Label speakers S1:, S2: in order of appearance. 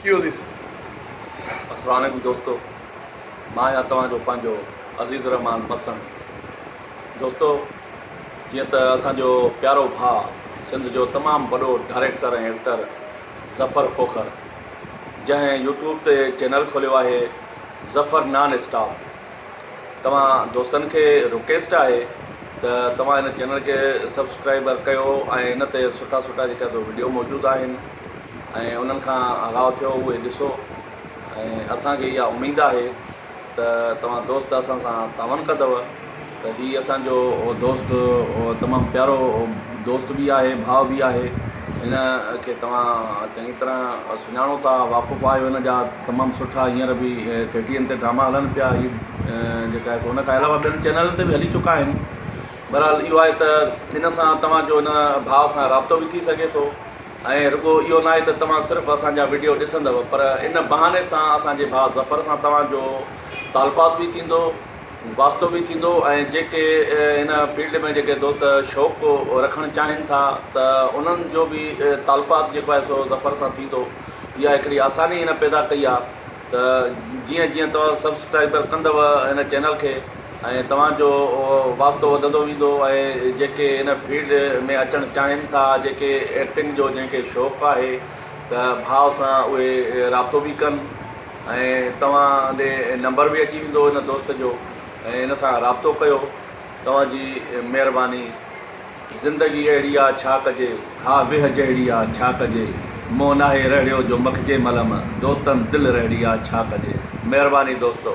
S1: ڪيو عزيز.
S2: السلام عليڪم دوستو مان آهيان توهان جو پنهنجو عزيز الرحمان مسڻ دوستو جيئن ته اسان جو پيارو ڀاء سنڌ جو تمام وڏو ڊائريڪٽر ۽ ايڪٽر ظفر کوکر جنهن يوٽيوب تي چينل کوليو آهي ظفر نان اسٽاپ توهان دوستن کي رڪيسٽ آهي ته توهان هن چينل کي سبسڪرائبر ڪيو ۽ هن تي سٺا سٺا جيڪا تو وڊيو موجود آهن ۽ انهن کان آگاهه ٿيو اهي ڏسو ۽ اسان کي اها اميد آهي ته توهان دوست اسان سان تعاون ڪندو ته هي اسان جو دوست تمام پيارو دوست به آهي ڀاء به آهي هن کي توهان چڱي طرح سڃاڻو ٿا واقف آهيو هن جا تمام سٺا هينئر به ٽي ٽي اين تي ڊراما هلن پيا هي جيڪا آهي سو ان کان علاوه ٻين چينلن تي به هلي چڪا آهن بهرحال اهو آهي ته ان سان توهان جو ان ڀاء سان رابطو به ٿي سگهي ٿو ۽ رڳو اهو ناهي ته توهان صرف اسان جا وڊيو ڏسندؤ پر ان بهاني سان اسان جي ڀاء ظفر سان توهان جو تعلقات به ٿيندو واسطو به ٿيندو ۽ جيڪي هن فيلڊ ۾ جيڪي دوست شوق رکڻ چاهين ٿا ته انهن جو به تعلقات جيڪو آهي سو ظفر سان ٿيندو اها هڪڙي آساني هن پيدا ڪئي آهي ته جيئن جيئن توهان سبسڪرائبر ڪندو هن چينل کي ۽ توهان جو واسطو وڌندو ويندو ۽ جيڪي هن فيلڊ ۾ اچڻ چاهين ٿا جيڪي ايڪٽنگ جو جنهن کي شوق آهي ته ڀاء سان اهي رابطو به ڪن ۽ توهان ڏي نمبر به اچي ويندو هن دوست جو ۽ هن سان رابطو ڪيو توهان جي مهرباني زندگي اهڙي آ ڇا ڪجي، ها ويهه جهڙي آ ڇا ڪجي، مون ناهي رهڙيو جو مکجي ملم، دوستن دل رهڙي آ ڇا ڪجي. مهرباني دوستو.